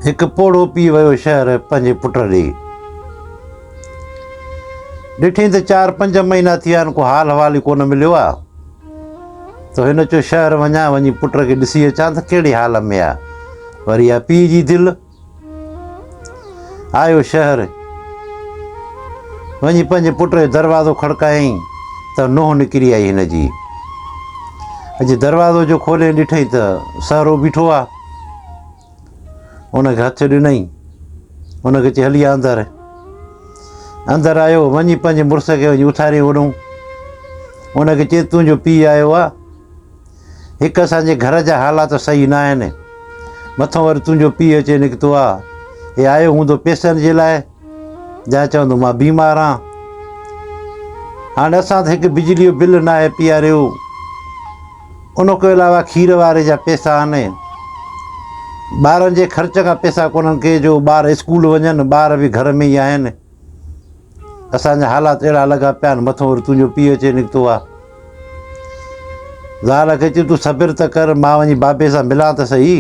هڪ پوڙهو پيئي ويو شهر پنهنجي پٽ ڏي. ڏٺئين ته چار پنج مهينا ٿي ويا آهن ڪو حال احوال ئي ڪونه مليو آ ته هن چيو شهر وڃان وڃي پٽ کي ڏسي اچان ته ڪهڙي حال ۾ آ وري آ پيء جي دل آيو شهر وڃي پنهنجي پٽ جو دروازو کڙڪايائين ته نوح نڪري آئي هن جي اڄ دروازو جو کولي ڏٺئين ته سهرو بيٺو آ ان کي هٿ ڏنائين. ان کي چي هلي آ اندر. اندر آيو وڃي پنهنجي مڙس کي وڃي اٿاري وڏون. ان کي چي تنهنجو پيء آيو آ. هڪ اسان جي گهر جا حالات صحيح نه آهن. مٿو وري تنهنجو پيء اچي نڪتو آ. هي آيو هوندو پيسن جي لاء. جنهن چوندو مان بيمار آهان. هاڻي اسان ته هڪ بجلي جو بل ناهي پياريو. ان کان علاوه کير واري جا پيسا آهن. ٻارن جي خرچ کان پيسا ڪونهن ڪي جو ٻار اسڪول وڃن ٻار به گهر ۾ ئي آهن. اسان جا حالات اهڙا لڳا پيا آهن مٿو وري تنهنجو پيء اچي نڪتو آهي. زال کي چيو تون صبر ته ڪر مان وڃي بابي سان ملان ته سهي.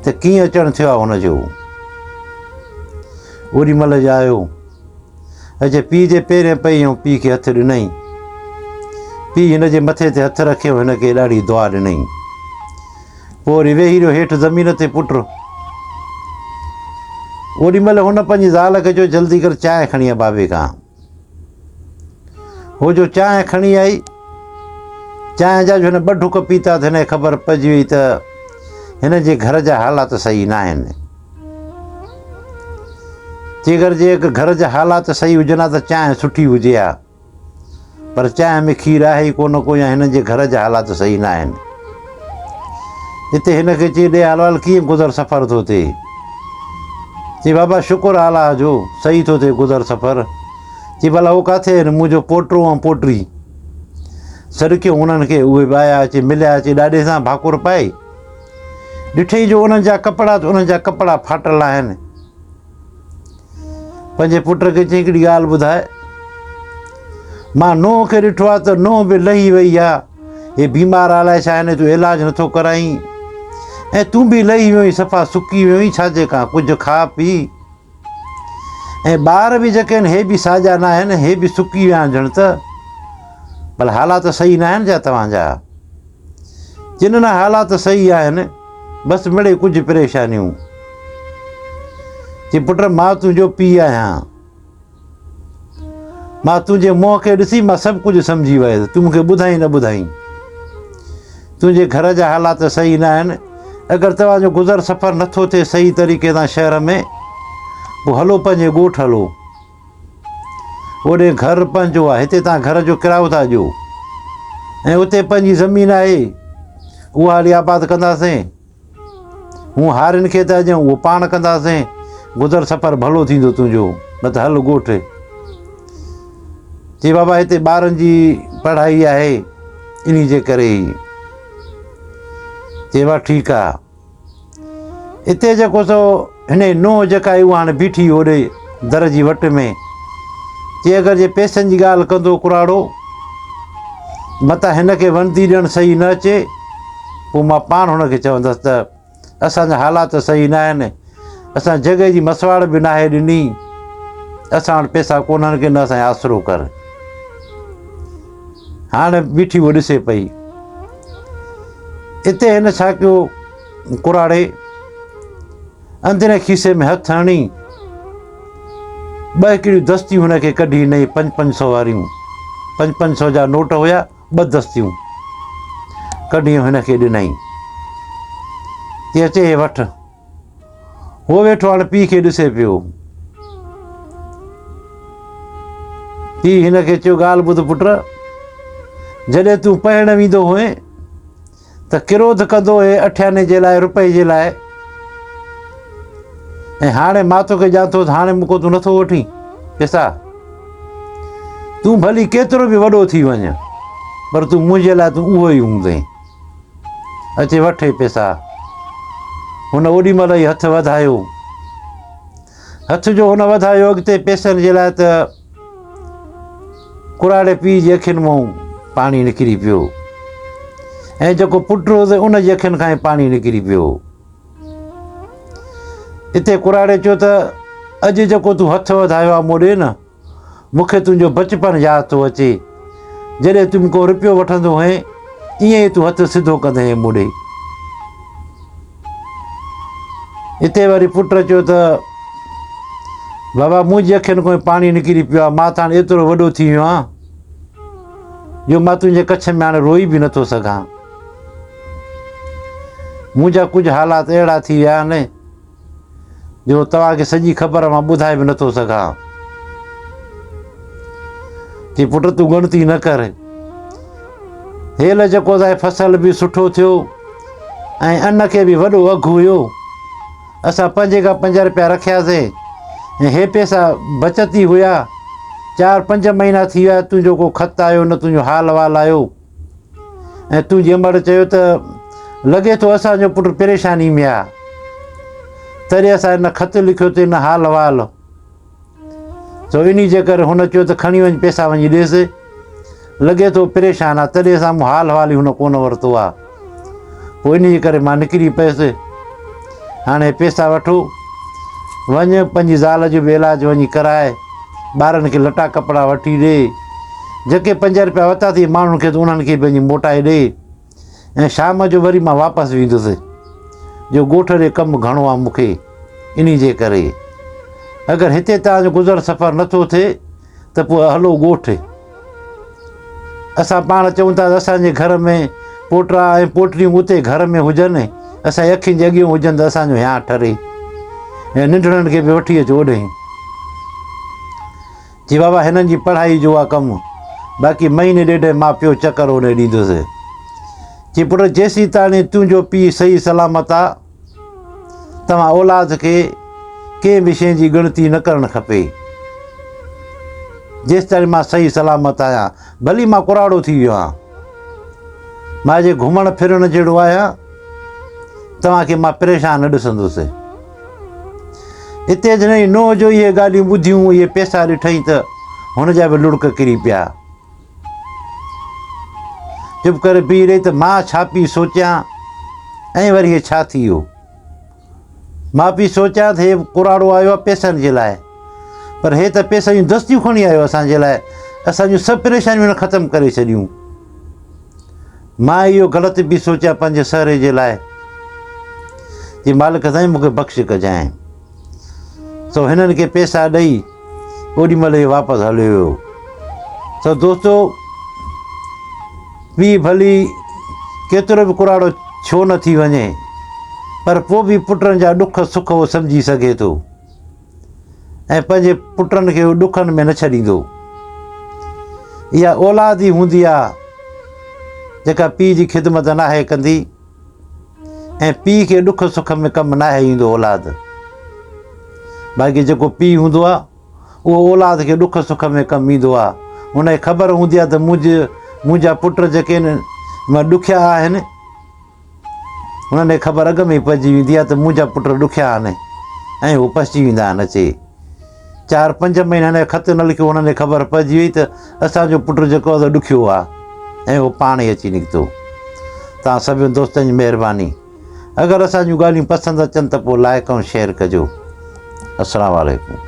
ته ڪيئن اچڻ ٿيو آ هن جو؟ اوڏي مهل جايو اچي پيء جي پيرين پئي ۽ پيء کي هٿ ڏنئين. پيء هن جي مٿي تي هٿ رکي ۽ هن کي ڏاڍي دعا ڏنئين. پوء وري ويهي رهيو هيٺ زمين تي پٽ. اوڏي مهل هن پنهنجي زال کي چيو جلدي ڪر چانهه کڻي آ بابي کان. هو جو چانهه کڻي آئي، چانهه جا جو هن ٻه ڍڪ پيتا ته هن کي خبر پئجي وئي ته هن جي گهر جا حالات صحيح ناهن. جيڪر جي گهر جا حالات صحيح هجن ها ته چانهه سٺي هجي ها. پر چانهه ۾ کير آهي ئي ڪونه ڪو يا هن جي گهر جا حالات صحيح ناهن. جتي هن کي چي ڏي حلوال ڪيئن گذر سفر ٿو ٿئي. چي بابا شڪر آلهه جو صحيح ٿو ٿئي گذر سفر. چي ڀلا هو ڪاٿي آهن منهنجو پوٽو ۽ پوٽي. سڏڪيو انهن کي اهي به آيا اچي مليا اچي ڏاڏي سان ڀاڪر پائي. ڏٺئي جو انهن جا ڪپڙا انهن جا ڪپڙا ڦاٽل آهن. پنهنجي پٽ کي چيائين هڪڙي ڳالهه ٻڌاء مان نوح کي ڏٺو آهي ته نوح به لهي وئي آ هي بيمار آ الاء ڇا هن جو علاج نٿو ڪرائين ۽ تون به لهي ويو صفا سڪي ويو آهين ڇا جي ڪا ڪجهه کاء پي ۽ ٻار به جيڪي آهن هي به ساڄا نه آهن هي به سڪي ويا آهن جڻ ته بل حالات صحيح نه آهن جا توهان جا جنھن نا حالات صحيح آھن بس مڙئي ڪجھ پريشانيون. چي پٽ مان تنھنجو پيء آھيان. مان تنھنجي منھن کي ڏسي مان سڀ ڪجھ سمجھي ويس تون مون کي ٻڌائين نه ٻڌائين. تنھنجي گھر جا حالات صحيح نه آھن اگر توھان جو گذر سفر نٿو ٿئي صحيح طريقي سان شھر ۾ پوء ھلو پنھنجي ڳوٺ ھلو. اوڏي گهر پنهنجو آهي. هتي توهان گهر جو ڪرايو ٿا ڏيو ۽ اتي پنهنجي زمين آهي، اها هلي آباد ڪنداسين. هون هارين کي ته اڄئون اهو پاڻ ڪنداسين. گذر سفر ڀلو ٿيندو تنهنجو، نه ته هل ڳوٺ. چي بابا هتي ٻارن جي پڙهائي آهي، انهي جي ڪري هي. چي وا ٺيڪ آ. اتي جيڪو سو هن جي نونهن جيڪا هئي اها هاڻي بيٺي هئي اوڏي در جي وٽ ۾ چي اگر جي پيسن جي ڳالهه ڪندو ڪراڙو متان هن کي وندي ڏيڻ صحيح نه اچي پوء مان پاڻ هن کي چوندس ته اسانجا حالات صحيح نه آهن اسان جڳهه جي مسواڙ به ناهي ڏني اسان وٽ پيسا ڪونهن ڪي نه اسانجو آسرو ڪر هاڻ بيٺي هوء ڏسي پئي. اتي هن ڇا ڪيو؟ ڪراڙي اندرين کيسي ۾ هٿ هڻي ٻه هڪڙيون دستيون هن کي ڪڍي ڏنائين پنج پنج سو واريون پنج پنج سو جا نوٽ هيا ٻه دستيون ڪڍي هن کي ڏنائين چي اچي هي وٺ هو ويٺو هاڻ پيء کي ڏسي پيو. پيء هن کي چيو ڳالهه ٻڌ پٽ، جڏهن تون پهڻ ويندو هئين ته ڪروڌ ڪندو هئين اٺياني جي لاء روپئي جي لاء ۽ هاڻي مان توکي ڄان ٿو هاڻي مون کان تون نٿو وٺين پيسا تون ڀلي ڪيترو به وڏو ٿي وڃ پر تون منهنجي لاء تون اهو ئي هوندين اچي وٺ هي پيسا. هن اوڏي مهل ئي هٿ وڌايو. هٿ جو هن وڌايو اڳتي پيسن جي لاء ته ڪراڙي پيء جي اکين مون پاڻي نڪري پيو ۽ جيڪو پٽ هو ته ان جي اکين کان ئي پاڻي نڪري پيو اتي ڪراڙي چيو ته اڄ جيڪو تون هٿ وڌايو آ مون ڏي نه مون کي تنهنجو بچپڻ ياد ٿو اچي، جڏهن تون ڪو رپيو وٺندو هئين، ائين ئي تون هٿ سڌو ڪندي هئين مون ڏي. اتي وري پٽ چيو ته، بابا منهنجي اکين کان پاڻي نڪري پيو آهي، مان ته هاڻي ايترو وڏو ٿي ويو آهيان، جو مان تنهنجي ڪڇ ۾ هاڻي روئي به نٿو سگهان. منهنجا ڪجهه حالات اهڙا ٿي ويا آهن، جو توهان کي سڄي خبر مان ٻڌائي به نٿو سگهان. چي پٽ تون ڳڻتي نه ڪر. هيل جيڪو ته فصل به سٺو ٿيو ۽ ان کي به وڏو اگهه هيو. اسان پنج کان پنج روپيا رکياسين ۽ هي پيسا بچت ئي هيا. چار پنج مهينا ٿي ويا تنهنجو ڪو خط آيو نه تنهنجو حال وال آيو. ۽ تون جنهن مهل چيو ته لڳي ٿو اسان جو پٽ پريشاني ۾ آهي تڏهن اسان هن خط لکيو ته هن حال وال سو انهي جي ڪري هن چيو ته کڻي وڃ پيسا وڃي ڏيس لڳي ٿو پريشان آهي تڏهن اسان مون حال حوال ئي هن ڪونه ورتو آهي پوء ان جي ڪري مان نڪري پيس. هاڻي پيسا وٺو، وڃ پنهنجي زال جو به علاج وڃي ڪرائي، ٻارن کي لٽا ڪپڙا وٺي ڏي، جيڪي پنج رپيا ورتا اٿئي ماڻهن کي ته انهن کي به وڃي موٽائي ڏي ۽ شام جو وري مان واپس ويندس، جو ڳوٺ ڏي ڪم گهڻو آ مون کي، انهي جي ڪري اگر هتي توهان جو گذر سفر نٿو ٿئي، ته پوء هلو ڳوٺ. اسان پاڻ چئون ٿا ته اسان جي گهر ۾ پوٽا ۽ پوٽڙيون اتي گهر ۾ هجن، اسان جي اکين جي اڳيون هجن ته اسان جو هيانء ٺري ۽ ننڍڙن کي به وٺي اچ اوڏهين. جي بابا هنن جي پڙهائي جو آ ڪم، باقي مهيني ڏيڍ مان پيو چڪر اوڏهين ڏيندوسين. جي پٽ جيسين تاڻي تنهنجو پيء صحيح سلامت آ، توهان اولاد کي ڪنهن به شيء جي ڳڻتي نه ڪرڻ کپي، جيستائين مان صحيح سلامت آهيان، ڀلي مان ڪراڙو ٿي ويو آهيان. مان اڄ گهمڻ ڦرڻ جهڙو آهيان، توهان کي مان پريشان نه ڏسندس. اتي جڏهن نوح جو اهي ڳالهيون ٻڌيون، اهي پيسا ڏٺائين ته هن جا به لڙڪ ڪري پيا. چپ ڪري بيهي رهي ته مان ڇا پي سوچيان ۽ وري هي ڇا ٿي ويو. مان پي سوچيان ته هي ڪراڙو آيو آهي پيسن جي لاء پر هي ته پيسن جون دستيون کڻي آيو اسان جي لاء اسان جون سڀ پريشانيون هن ختم ڪري ڇڏيون. مان اهو غلط پي سوچيان پنهنجي سهري جي لاء. جي مالڪ سائين مون کي بخش ڪجانء. سو هنن کي پيسا ڏئي اوڏي مهل اهو واپس هليو ويو. سو دوستو پيء ڀلي ڪيترو به ڪراڙو ڇو نه ٿي وڃي پر پوء به پٽن جا ڏک سک اهو سمجهي سگهي ٿو ۽ پنهنجي پٽن کي اهو ڏکن ۾ نه ڇڏيندو اها اولاد ئي هوندي آهي جيڪا پيء جي خدمت ناهي ڪندي ۽ پيء کي ڏک سک ۾ ڪم ناهي ايندو اولاد باقي جيڪو پيء هوندو آهي اهو اولاد کي ڏک سک ۾ ڪم ايندو آهي ان کي خبر هوندي آهي ته منهنجي منهنجا پٽ جيڪي آهن ڏکيا آهن انهن کي خبر اڳ ۾ پئجي ويندي آهي ته منهنجا پٽ ڏکيا آهن ۽ هو پسجي ويندا آهن اچي چار پنج مهينا هن کي خط نه لکيو هنن کي خبر پئجي وئي ته اسان جو پٽ جيڪو آهي سو ڏکيو آهي ۽ هو پاڻ ئي اچي نڪتو توهان سڀني دوستن جي مهرباني اگر اسان جون ڳالهيون پسند اچن ته پوء لائق ۽ شيئر ڪجو السلام عليڪم